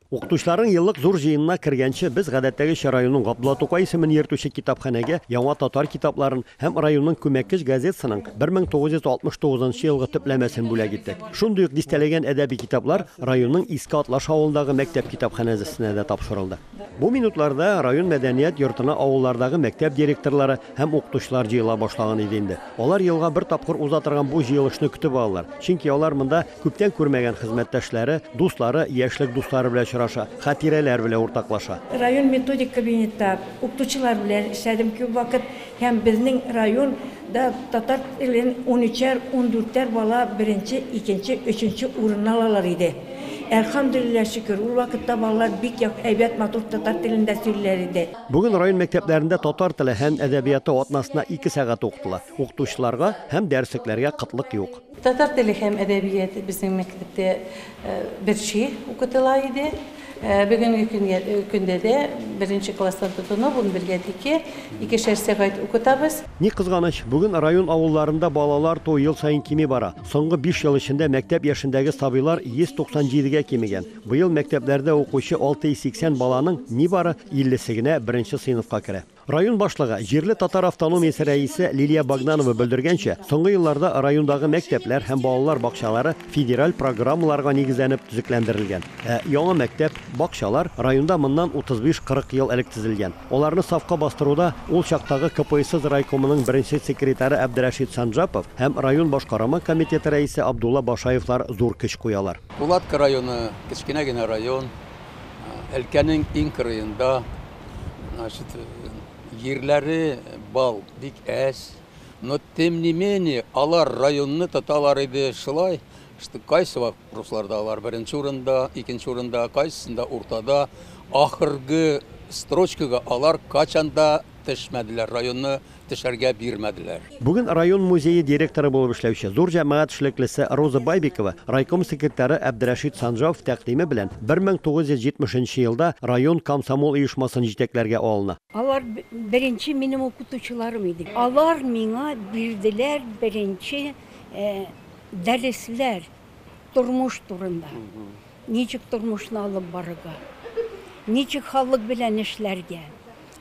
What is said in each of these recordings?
Укытучыларның еллык зур җыенына кергәнче, без гадәттәгечә районның Габдулла Тукай исемен йөртүче китапханәгә яңа татар китапларын һәм районның күмәккеч газетасының 1969 нчы елгы төпләмәсен бүләк иттек. Шундый ук дистәләгән әдәби китаплар районның Иске Атлаш авылындагы мәктәп китапханәзесенә дә тапшырылды. Бу минутларда район мәдәният йортына авыллардагы мәктәп директорлары һәм укытучылар җыела башлаган иде инде. Алар елга бер тапкыр уза торган бу җыелышны көтеп алалар, чөнки алар монда, Күптән күрмәгән хезмәттәшләре, дуслары, яшьлек дуслары белән очраша, хатирәләр белән уртаклаша. Район методик кабинетта укытучылар белән эшләдем күп вакыт һәм безнең район да татар телен унөчәр, ундүртәр бала беренче, икенче, өченче урынны алалар иде. Әлхәмдүлилләһ, шөкер, ул вакытта балалар бик як, әйбәт, матур татар телендә сөйлиләр иде. Бүген район мәктәпләрендә татар теле һәм әдәбияты атнасына ике сәгать укытыла. Укытучыларга һәм дәреслекләргә кытлык юк. Татар теле һәм әдәбияты безнең мәктәптә берчи укытыла иде. Бүгенге көнгә көндә дә беренче класстан тотынып унбергә тике икешәр сәгать укытабыз. Ни кызганыч, бүген район авылларында балалар туу ел саен кими бара. Соңгы биш ел эчендә мәктәп яшендәге сабыйлар 197 гә кимегән. Быел мәктәпләрдә укучы 680 баланың нибары 50 се генә беренче сыйныфка керә. Район башлыгы, җирле татар автономиясе рәисе Лилия Богданова белдергәнчә, соңгы елларда райондагы мәктәпләр һәм балалар бакчалары федераль программаларга нигезләнеп төзекләндерелгән. Ә яңа мәктәп, бакчалар районда моннан 35-40 ел элек төзелгән. Аларны сафка бастыруда ул чактагы КПСС райкомының беренче секретаре Әбдрәшит Санжапов һәм район башкарама комитеты рәисе Абдулла Башаевлар зур көч куялар. Пулатка районы, кечкенә генә район, өлкәнең иң кырыенда. Значит, җирләре бал бик әз. Но тем не менее, алар районны тоталар иде шулай, что кайсы вак русларда алар беренче урында, икенче урында, кайсында уртада, ахыргы строчкага алар качанда төшмәделәр, районны төшәргә бирмәделәр. Бүген район музее директоры булып эшләүче, зур җәмәгать эшлеклесе Роза Байбикова райком секретаре Әбдрәшит Санжаов тәкъдиме белән 1970 нче елда район комсомол оешмасын җитәкләргә алына. Алар беренче минем укытучыларым иде. Алар миңа бирделәр беренче дәресләр тормыш турында. Ничек тормышны алып барырга, ничек халык белән эшләргә,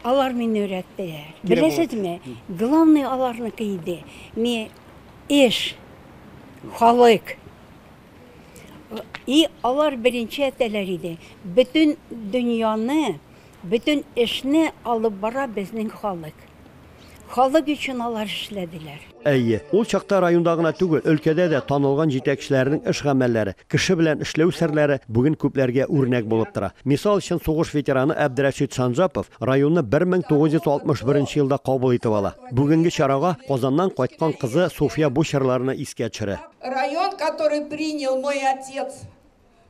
Алар мине өйрәттеләр. Кирәк Беләсезме, главный аларныкы иде. Ми эш, халык. И алар беренче әтәләр иде. Бөтен дөньяны, бөтен эшне алып бара безнең халык. Халык өчен алар эшләделәр. Әйе, ул чакта районда гына түгел, өлкәдә дә танылган җитәкчеләрнең эш-гамәлләре, кеше белән эшләү серләре бүген күпләргә үрнәк булып тора. Мисал өчен, сугыш ветераны Әбдрәшит Санжапов районны 1961 нче елда кабул итеп ала. Бүгенге чарага Казаннан кайткан кызы Суфия бу чорларны искә төшерә. Район, который принял мой отец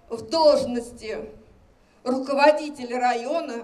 в должности руководителя района,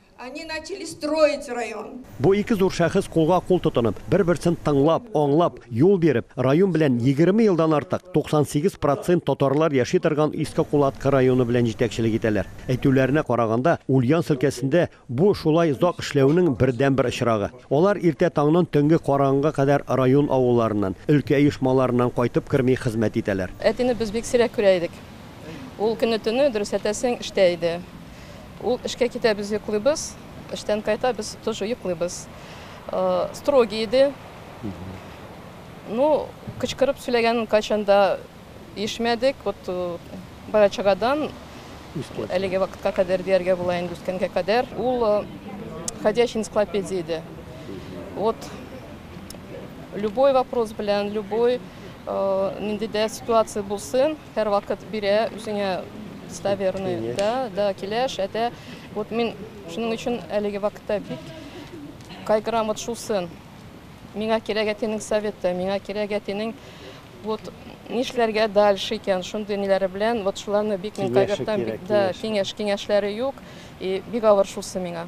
Они начали строить район. Бу ике зур шәхес кулга-кул тотынып, бер-берсен тыңлап, аңлап, юл биреп, район белән 20 елдан артык 98 процент татарлар яши торган Иске Кулаткы районы белән җитәкчелек итәләр. Әйтүләренә караганда, Ульян өлкәсендә бу шулай озак эшләүнең бердәнбер очрагы. Алар иртә таңнан төнге караңгыга кадәр район авылларыннан, өлкә оешмаларыннан кайтып керми хезмәт итәләр. Әтине без бик сирәк күрә идек. Ул көне-төне, дөрес әйтәсең, эштә иде. Ул эшкә китә, без йоклыйбыз, эштән кайта, без тоже йоклыйбыз. Строгий иде. Ну, кычкырып сөйләгәнен кайчан да ишмәдек. Вот бала чагадан әлеге вакытка кадәр дияргә була инде, үскәнгә кадәр. Ул ходячий энциклопедия иде. Вот любой вопрос белән, любой нинди дә ситуация булсын, Һәрвакыт бирә үзеңә достоверный, да, да, киләш, әтә. Вот мин шуның өчен әлеге вакытта бик кайгырам вот шул сын. Миңа кирәк әтинең советы, миңа кирәк әтинең вот нишләргә дальше икән, шундый ниләре белән, вот шуларны бик мин кайгыртам, бик да киңәш, киңәшләре юк, и бик авыр шусы миңа.